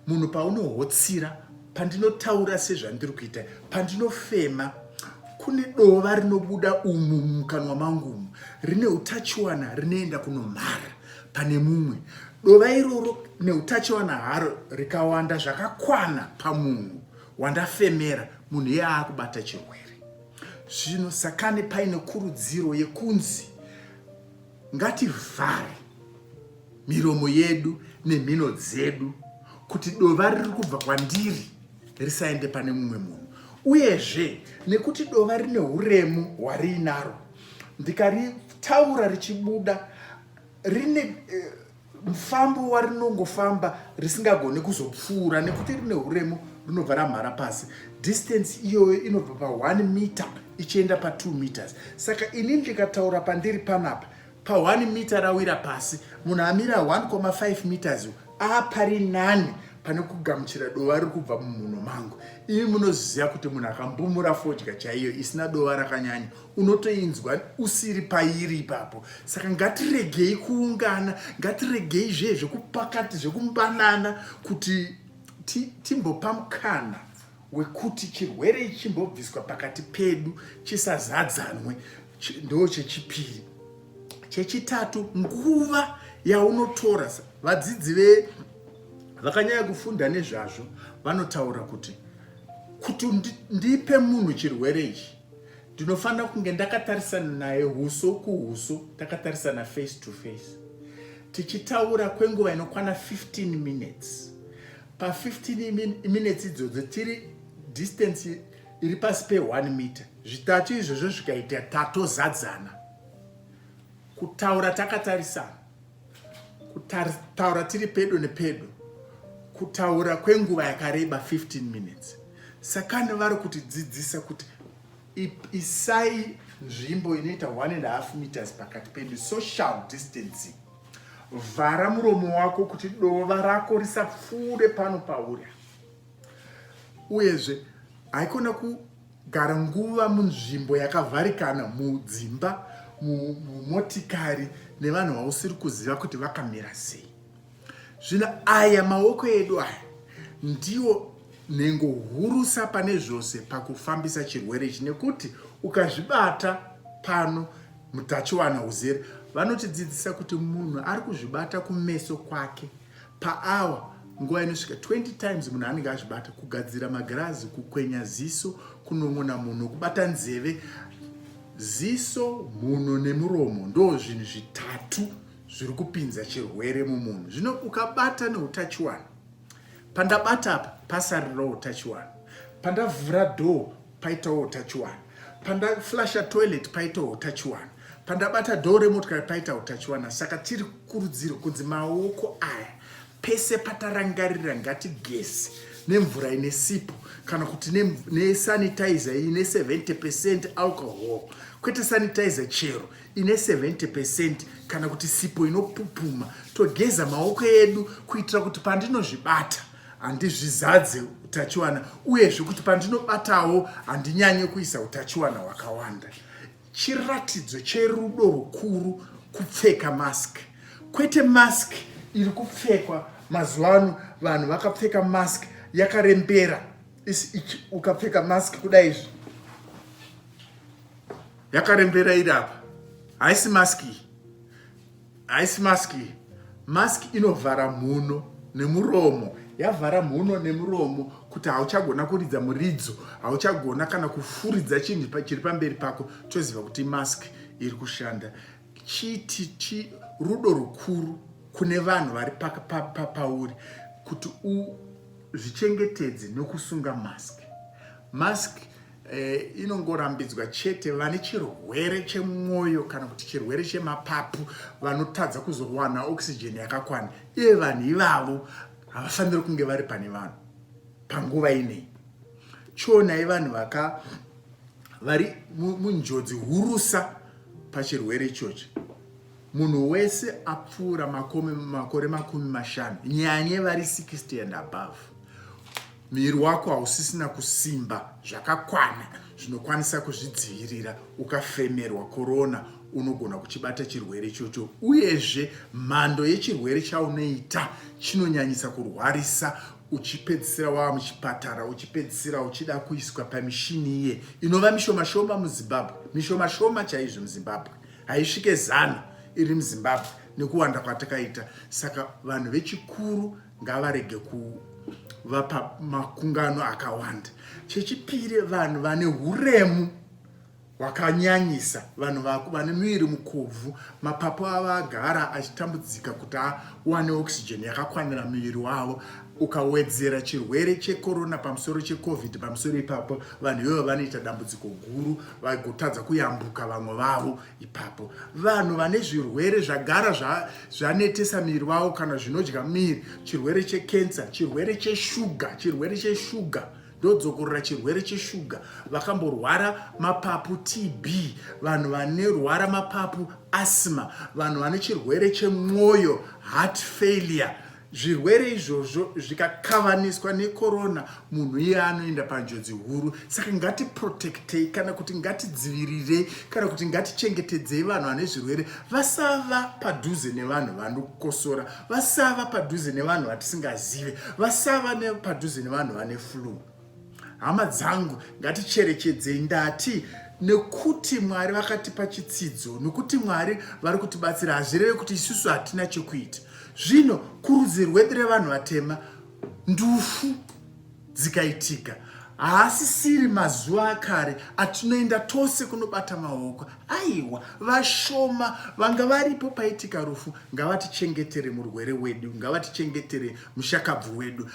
munhu paunohotsira pandinotaura sezvandiri kuita pandinofema kune dova rinobuda umu mukanwa mangu umu rine utachiwana rinoenda kunomhara pane mumwe. Dova iroro neutachiwana haro rikawanda zvakakwana pamunhu wandafemera, munhu iye aakubata chirwere. Zvino sakane paine kurudziro yekunzi ngativhare miromo yedu nemhino dzedu kuti dova riri kubva kwandiri risaende pane mumwe munhu uyezve nekuti dova rine uremu hwariinaro ndikaritaura richibuda rine eh, mfambo warinongofamba risingagoni kuzopfuura nekuti rine uremu rinobva ramhara pasi distance iyoyo inobva pa 1 meter ichienda pa 2 meters saka ini ndikataura pandiri panapa pa 1 meter rawira pasi munhu amira 1,5 meters apari nani pane kugamuchira dova riri kubva mumhuno mangu imi munoziva kuti munhu akambumura fodya chaiyo isina dova rakanyanya unotoinzwa usiri pairi ipapo saka ngatiregei kuungana ngatiregei zvee zvekupakati zvekumbanana kuti timbopa mukana wekuti chirwere ichi chimbobviswa pakati pedu chisazadzanwe ndo chechipiri chechitatu nguva yaunotora vadzidzi ve vakanyanya kufunda nezvazvo vanotaura kuti kuti ndipe munhu chirwere ichi ndinofanira kunge ndakatarisana naye huso kuhuso takatarisana face to face tichitaura kwenguva inokwana 15 minutes pa15 minutes idzodzo tiri distance iri pasi pe1 meter zvitatu izvozvo zvikaita tatozadzana kutaura takatarisana kutaura tiri pedo nepedo kutaura kwenguva yakareba 15 minutes sakani vari kutidzidzisa kuti isai nzvimbo inoita 1 and half meters pakati penyu social distancing vhara muromo wako kuti dova rako risapfuure pano pauri uyezve haikona ku Gara nguva munzvimbo yakavharikana, mudzimba, mumotikari nevanhu vausiri kuziva kuti vakamira sei. Zvino aya maoko edu aya ndiwo nhengo hurusa pane zvose pakufambisa chirwere ichi nekuti ukazvibata pano mutachiwana uzere vanotidzidzisa kuti munhu ari kuzvibata kumeso kwake Paawa, nguva inosvika 20 times munhu anenge azvibata, kugadzira magirazi, kukwenya ziso, kunon'ona munhu, kubata nzeve. Ziso, mhuno nemuromo ndo zvinhu zvitatu zviri kupinza chirwere mumunhu. Zvino ukabata neutachiwana, pandabata apa pasarirawo utachiwana, pandavhura door paitawo utachiwana pandaflasha toilet paitawo utachiwana pandabata dhoo remotikari paita utachiwana saka tiri kurudziro kunzi maoko aya pese patarangarira ngatigeze nemvura ine sipo kana kuti nesanitizer ine 70 percent alcohol kwete sanitizer chero ine 70 percent kana kuti sipo inopupuma togeza maoko edu kuitira kuti pandinozvibata handizvizadze utachiwana uyezve kuti pandinobatawo handinyanye kuisa utachiwana hwakawanda chiratidzo cherudo rukuru kupfeka mask kwete mask iri kupfekwa mazuva ano vanhu vakapfeka mask yakarembera ukapfeka mask kudai izvi yakarembera iri apa haisi mask iyi haisi mask iyi mask inovhara mhuno nemuromo yavhara mhuno nemuromo kuti hauchagona kuridza muridzo hauchagona kana kufuridza chinhu chiri pamberi pako toziva kuti mask iri kushanda chiti chi rudo rukuru kune vanhu vari pauri kuti uzvichengetedze nokusunga mask mask eh, inongorambidzwa chete vane chirwere chemwoyo kana kuti chirwere chemapapu vanotadza kuzowana oxygen yakakwana iye vanhu ivavo havafaniri kunge vari pane vanhu panguva inei chionai vanhu vaka vari munjodzi hurusa pachirwere ichochi Munhu wese apfuura makore makumi mashanu nyanye vari 60 and above, miri wako hausisina kusimba zvakakwana zvinokwanisa kuzvidzivirira ukafemerwa korona. Unogona kuchibata chirwere ichocho, uyezve mhando yechirwere chaunoita chinonyanyisa kurwarisa uchipedzisira wava muchipatara uchipedzisira uchida kuiswa pamishini iye inova mishomashoma muzimbabwe mishomashoma chaizvo muzimbabwe haisvike zana iri muzimbabwe nekuwanda kwatakaita saka vanhu vechikuru ngavarege kuvapa makungano akawanda chechipiri vanhu vane uremu hwakanyanyisa vanhu vane miviri mukobvu mapapu avo agara achitambudzika kuti awane oxygen yakakwanira miviri wavo ukawedzera chirwere chekorona pamusoro checovid pamusoro ipapo vanhu ivovo vanoita dambudziko guru vaigotadza kuyambuka vamwe vavo ipapo vanhu vane zvirwere zvagara zvanetesa miri vavo kana zvinodya miri chirwere chekensa chirwere cheshuga chirwere cheshuga ndodzokorora chirwere cheshuga vakamborwara mapapu tb vanhu vanerwara mapapu asma vanhu vane chirwere chemwoyo heart failure Zvirwere izvozvo zvikakavaniswa nekorona munhu iye anoenda panjodzi huru. Saka ngatiprotektei kana kuti ngatidzivirirei kana kuti ngatichengetedzei vanhu vane zvirwere vasava padhuze nevanhu vanokosora, vasava padhuze nevanhu vatisingazive, vasava padhuze nevanhu vane flue. Hama dzangu ngaticherechedzei ndati nekuti Mwari vakatipa chitsidzo nekuti Mwari vari kutibatsira hazvireve kuti isusu hatina chekuita. Zvino kurudzi rwedu revanhu vatema ndufu dzikaitika haasisiri mazuva akare atinoenda tose kunobata maoko aiwa vashoma vanga varipo paitika rufu ngavatichengetere murwere wedu ngavatichengetere mushakabvu wedu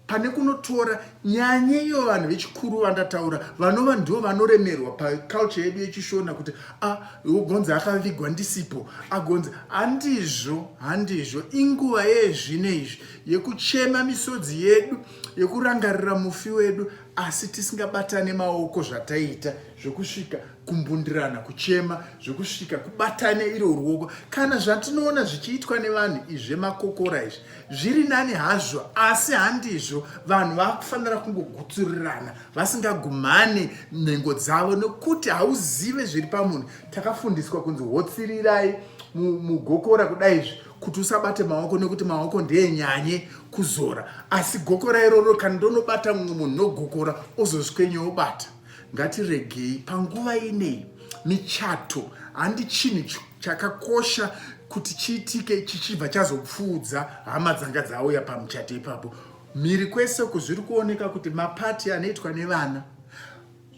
pane kunotora nyanye iyo vanhu vechikuru vandataura vanova ndivo vanoremerwa paculture yedu yechishona kuti ah, ugonzi akavigwa ndisipo agonzi handizvo handizvo inguva yezvino izvi yekuchema misodzi yedu yekurangarira mufi wedu asi tisingabatane maoko zvataiita zvekusvika kumbundirana kuchema zvekusvika kubatane iro ruoko kana zvatinoona zvichiitwa nevanhu izvemakokora izvi zviri nani hazvo asi handizvo vanhu vakufanira kungogutsurirana vasingagumhani nhengo dzavo nokuti hauzive zviri pamunhu takafundiswa kunzi hotsirirai mugokora kudai izvi kuti usabate maoko nekuti maoko ndeenyanye kuzora asi gokora iroro kana ndonobata mumwe munhu nogokora ozozvikwenye obata Ngatiregei panguva ineyi michato handi chinhu chakakosha kuti chiitike chichibva chazopfuudza hama dzanga dzauya pamuchato ipapo mhiri kwese uku zviri kuoneka kuti mapati anoitwa nevana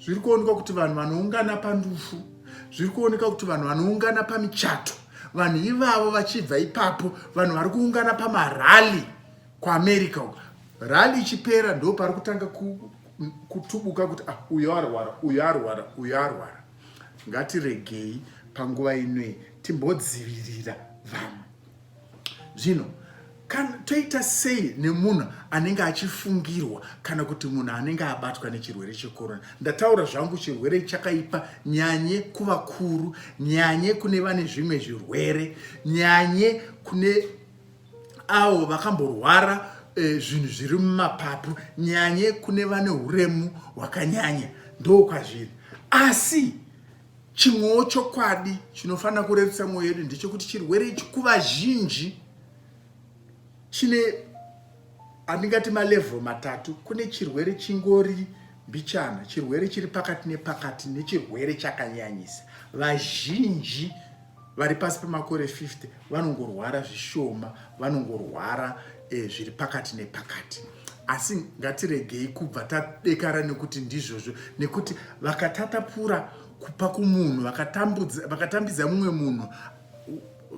zviri kuonekwa kuti vanhu vanoungana pandufu zviri kuoneka kuti vanhu vanoungana pamichato vanhu ivavo vachibva ipapo vanhu vari kuungana pamarali kuamerica uku rali ichipera ndo pari kutanga kutubuka kuti ah, uyo arwara uyo arwara uyo arwara ngatiregei panguva inoyi timbodzivirira vamwe zvino kana toita sei nemunhu anenge achifungirwa kana kuti munhu anenge abatwa nechirwere chekorona ndataura zvangu chirwere chakaipa nyanye kuvakuru nyanye kune vane zvimwe zvirwere nyanye kune avo vakamborwara eh, zvinhu zviri mumapapu nyanye kune vane uremu hwakanyanya ndo kwazviri asi chimwewo chokwadi chinofanira kurerutsa mwoyo yedu ndechekuti chirwere ichi kuvazhinji chine andingati malevel matatu kune chirwere chingori mbichana chirwere chiri pakati nepakati nechirwere chakanyanyisa vazhinji vari pasi pemakore 50 vanongorwara zvishoma vanongorwara eh, zviri pakati nepakati asi ngatiregei kubva tadekara nekuti ndizvozvo nekuti vakatatapura kupa kumunhu vakatambidza mumwe munhu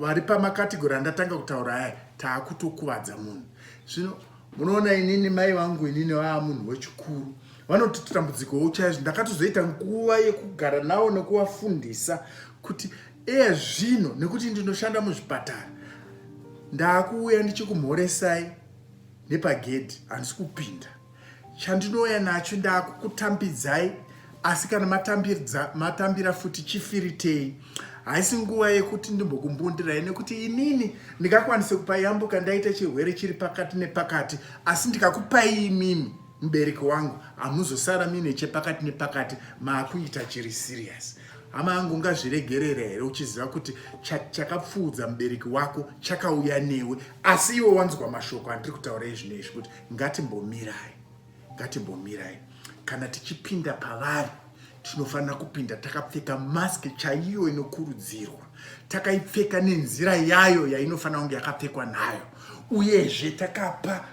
vari pamakategori andatanga kutaura aya taakutokuvadza munhu zvino munoona inini mai vangu inini vaa munhu wechikuru vanototi dambudziko uchaizvo ndakatozoita nguva yekugara navo nekuvafundisa kuti eye zvino nekuti ndinoshanda muzvipatara ndaakuuya ndichikumhoresai nepagedhi handisi kupinda chandinouya nacho ndaakukutambidzai asi kana matambira futi chifiritei haisi nguva yekuti ndimbokumbundirai nekuti inini ndingakwanise kupa yambuka ndaita chirwere chiri pakati nepakati asi ndikakupai imimi mubereki wangu hamuzosara mine chepakati nepakati maakuita chiri serious hama yangu ungazviregerera here uchiziva kuti chakapfuudza mubereki wako chakauya newe asi iwe wanzwa mashoko andiri kutaura izvino izvi kuti ngatimbomirai ngatimbomirai kana tichipinda pavari tinofanira kupinda takapfeka mask chaiyo inokurudzirwa takaipfeka nenzira yayo yainofanira kunge yakapfekwa nayo uyezve takapa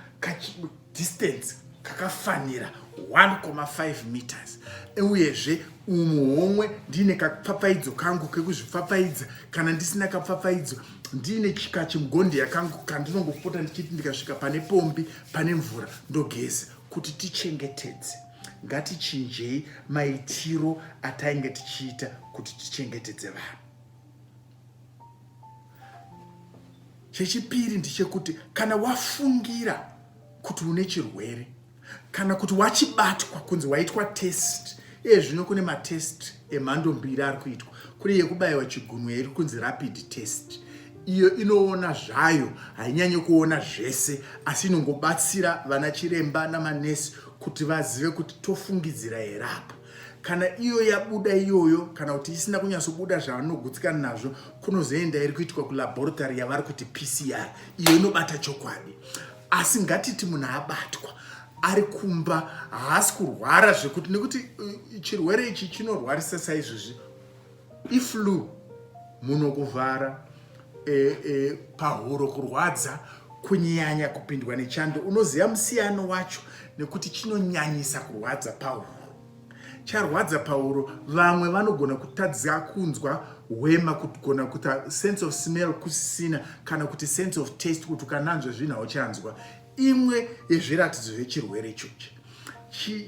distance kakafanira 1.5 meters uyezve umu homwe ndiine kapfapfaidzo kangu kekuzvipfapfaidza kana ndisina kapfapfaidzo ndiine chikachimugondeya kangu kandinongopota ndichiti ndikasvika pane pombi pane mvura ndogeza kuti tichengetedze ngatichinjei maitiro atainge tichiita kuti tichengetedze vanhu chechipiri ndichekuti kana wafungira kuti une chirwere kana kuti wachibatwa kunzi waitwa test iye zvino kune matest emhando mbiri ari kuitwa kune yekubayiwa chigunwe iri kunzi rapid test iyo inoona zvayo hainyanye kuona zvese asi inongobatsira vana chiremba namanesi kuti vazive kuti tofungidzira here apa kana iyo yabuda iyoyo kana kuti isina kunyatsobuda zvavanogutsikana nazvo kunozoenda iri kuitwa kulaboratory yavari kuti pcr iyo inobata chokwadi asi ngatiti munhu abatwa ari kumba haasi kurwara zvekuti nekuti uh, chirwere ichi chinorwarisa saizvozvi iflu muno kuvhara e, e, pahuro kurwadza kunyanya kupindwa nechando unoziva musiyano wacho nekuti chinonyanyisa kurwadza pahuro charwadza pahuro vamwe vanogona kutadza kunzwa hwema kugona kuti sense of smell kusisina kana kuti sense of taste kuti ukananzva zvinhu hauchanzwa imwe yezviratidzo zvechirwere ichochi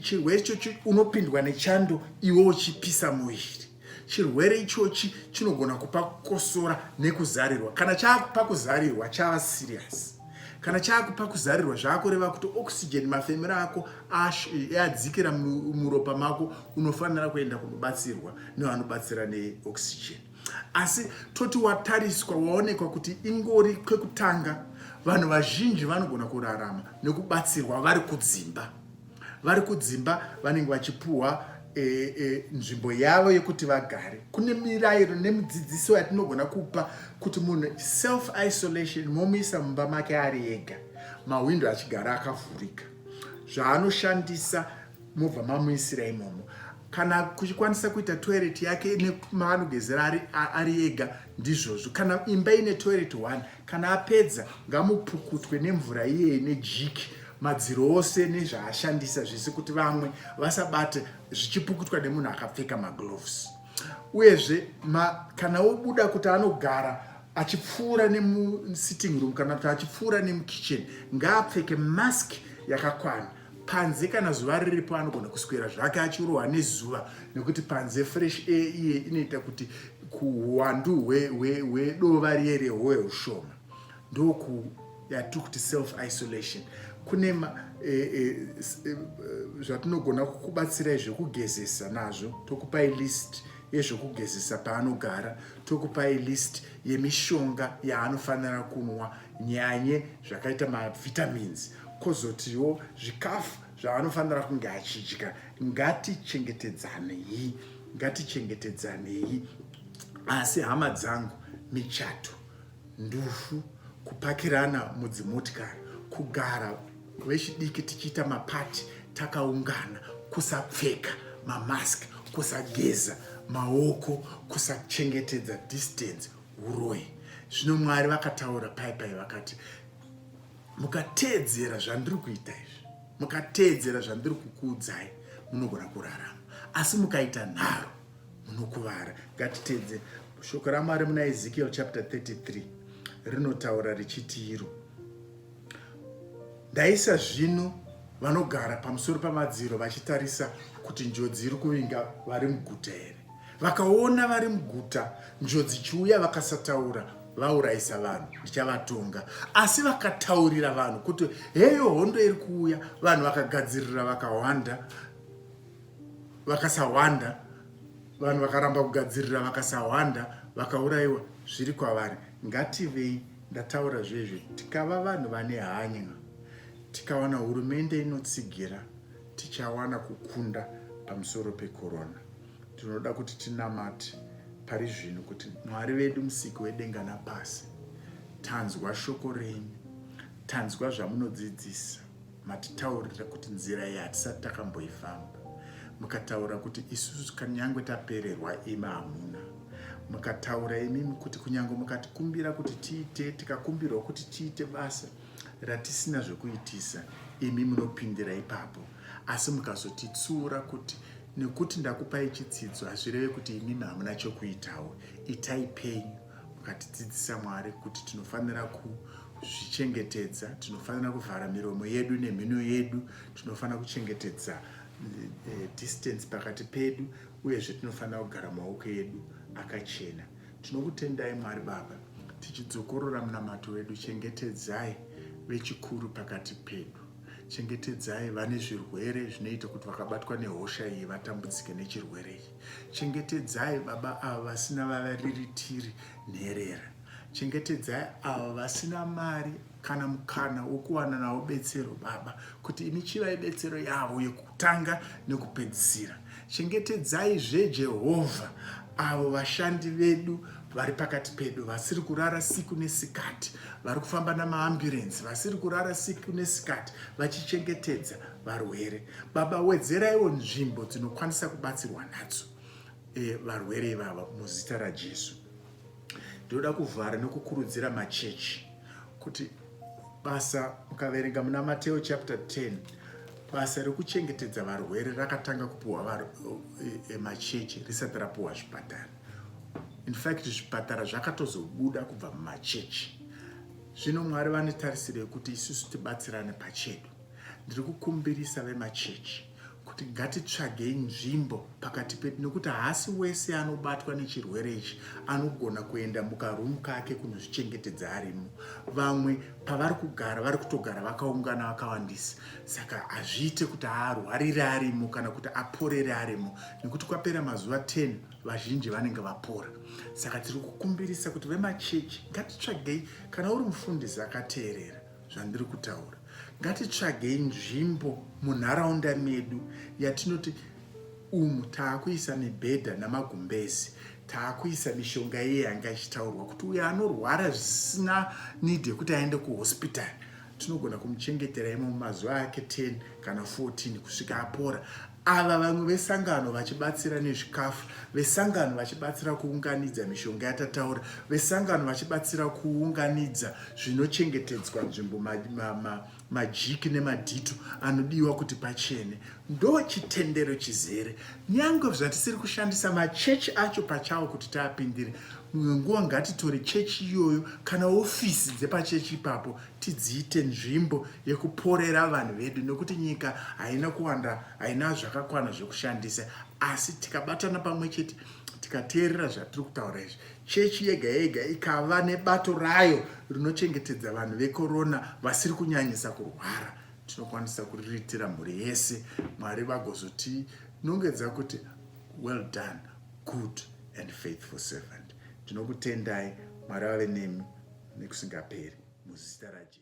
chirwere ichochi unopindwa nechando iwe uchipisa muviri chirwere ichochi chinogona kupa kukosora nekuzarirwa kana chaakupa kuzarirwa chava serious kana chaakupa kuzarirwa zvaakureva kuti oxygen mafemero ako adzikira muropa mako unofanira kuenda kunobatsirwa nevanobatsira neoxygen Asi toti watariswa waonekwa kuti ingori kwekutanga, vanhu vazhinji vanogona kurarama nekubatsirwa vari kudzimba. Vari kudzimba vanenge vachipuhwa e, e, nzvimbo yavo yekuti vagare. Kune mirayiro nemidzidziso yatinogona kupa kuti munhu self isolation momuisa mumba make ari ega, mahwindo achigara akavhurika, zvaanoshandisa mobva mamuisira imomo kana kuchikwanisa kuita toilet yake nemaanogezera ari, ari ega ndizvozvo kana imba ine toilet one kana apedza ngamupukutwe nemvura iyeye nejiki madziro ose nezvaashandisa zvese kuti vamwe vasabate zvichipukutwa nemunhu akapfeka magloves uyezve ma, kana wobuda kuti anogara achipfuura nemusitting room kana kuti achipfuura nemukitchen ngaapfeke mask yakakwana panze kana zuva riripo anogona kuswera zvake achirohwa nezuva nekuti panze fresh air iye inoita kuti kuhuwandu hwedova riye rehowe ushoma ndoku yatiri kuti self isolation kune e, e, e, zvatinogona kukubatsirai zvekugezesa nazvo tokupai list yezvekugezesa paanogara tokupai list yemishonga yaanofanira kunwa nyanye zvakaita mavitamins kozotiwo zvikafu zvaanofanira kunge achidya ngatichengetedzanei ngatichengetedzanei asi hama dzangu michato ndufu kupakirana mudzimotikari kugara vechidiki tichiita mapati takaungana kusapfeka mamask kusageza maoko kusachengetedza distance uroyi zvino mwari vakataura pai pai vakati mukateedzera zvandiri kuita izvi mukateedzera zvandiri kukuudzai munogona kurarama asi mukaita nharo munokuvara ngatiteedzere shoko ramwari muna ezekiel chapter 33 rinotaura richiti iro ndaisa zvino vanogara pamusoro pamadziro vachitarisa kuti njodzi iri kuvinga vari muguta here Vakaona vari muguta njodzi ichiuya vakasataura vaurayisa vanhu ndichavatonga asi vakataurira vanhu kuti heyo hondo iri kuuya vanhu vakagadzirira vakawanda vakasawanda vanhu vakaramba kugadzirira vakasawanda vakaurayiwa zviri kwavari ngativei ndataura zvezve tikava vanhu vane hanya tikawana hurumende inotsigira tichawana kukunda pamusoro pekorona Tinoda kuti tinamate pari zvino kuti Mwari vedu musiki wedenga napasi, tanzwa shoko renyu, tanzwa zvamunodzidzisa, matitaurira kuti nzira iyi hatisati takamboifamba, mukataura kuti isusu kanyangwe tapererwa imi hamuna mukataura imimi kuti kunyange mukatikumbira kuti tiite tikakumbirwa kuti tiite basa ratisina zvekuitisa imi munopindira ipapo asi mukazotitsuura kuti nekuti ndakupai chitsidzo hazvireve kuti imimi hamuna chokuitawo itai penyu mukatidzidzisa mwari kuti tinofanira ku kuzvichengetedza tinofanira kuvhara miromo yedu nemhino yedu tinofanira kuchengetedza eh, eh, distance pakati pedu uyezve tinofanira kugara maoko edu akachena Tinokutendai Mwari Baba, tichidzokorora munamato wedu, chengetedzai vechikuru pakati pedu. Chengetedzai vane zvirwere zvinoita kuti vakabatwa nehosha iyi vatambudzike nechirwere iyi. Chengetedzai baba ava vasina vavariritiri nherera. Chengetedzai ava vasina mari kana mukana wokuwana navo betsero baba kuti imi chivai betsero yavo yekutanga nekupedzisira chengetedzai zvejehovha avo vashandi vedu vari pakati pedu vasiri kurara siku nesikati vari kufamba namaamburensi vasiri kurara siku nesikati vachichengetedza varwere baba wedzeraiwo nzvimbo dzinokwanisa kubatsirwa nadzo e, varwere ivava muzita rajesu Ndinoda kuvhara nekukurudzira machechi kuti basa ukaverenga muna Mateo chapter 10 basa rekuchengetedza varwere rakatanga kupiwa emachechi e, e, risati rapiwa zvipatara in fact zvipatara zvakatozobuda kubva mumachechi zvino mwari vane tarisiro yekuti isusu tibatsirane pachedu ndiri kukumbirisa vemachechi kuti ngatitsvagei nzvimbo pakati pedu nekuti haasi wese anobatwa nechirwere ichi anogona kuenda mukarumu kake kunozvichengetedza arimo vamwe pavari kugara vari kutogara vakaungana vakawandisa saka hazviite kuti arwarire arimo kana kuti aporere arimo nekuti kwapera mazuva 10 vazhinji vanenge vapora saka tiri kukumbirisa kuti vemachechi ngatitsvagei kana uri mufundisi akateerera zvandiri kutaura ngatitsvagei nzvimbo munharaunda medu yatinoti umu taakuisa mibhedha namagumbezi taakuisa mishonga iye yanga ichitaurwa kuti uyo anorwara zvisina need yekuti aende kuhospital tinogona kumuchengetera imo mumazuva ake 10 kana 14 kusvika apora Ava vamwe vesangano vachibatsira nezvikafu, vesangano vachibatsira kuunganidza mishonga yatataura, vesangano vachibatsira kuunganidza zvinochengetedzwa nzvimbo, majiki ma, ma, ma nemadhito anodiwa kuti pachene. Ndo chitendero chizere. Nyange zvatisiri kushandisa machechi acho pachawo kuti taapindire, mumwe nguva ngatitore chechi iyoyo kana ofisi dzepachechi ipapo tidziite nzvimbo yekuporera vanhu vedu nekuti nyika haina kuwanda haina zvakakwana zvekushandisa asi tikabatana pamwe chete tikateerera zvatiri kutaura izvi chechi yega yega ikava nebato rayo rinochengetedza vanhu vekorona vasiri kunyanyisa kurwara tinokwanisa kuriritira mhuri yese mwari vagozotinongedza kuti well done good and faithful servant Ndinokutendai, Mwari vave nemi nekusingaperi, muzita raJesu.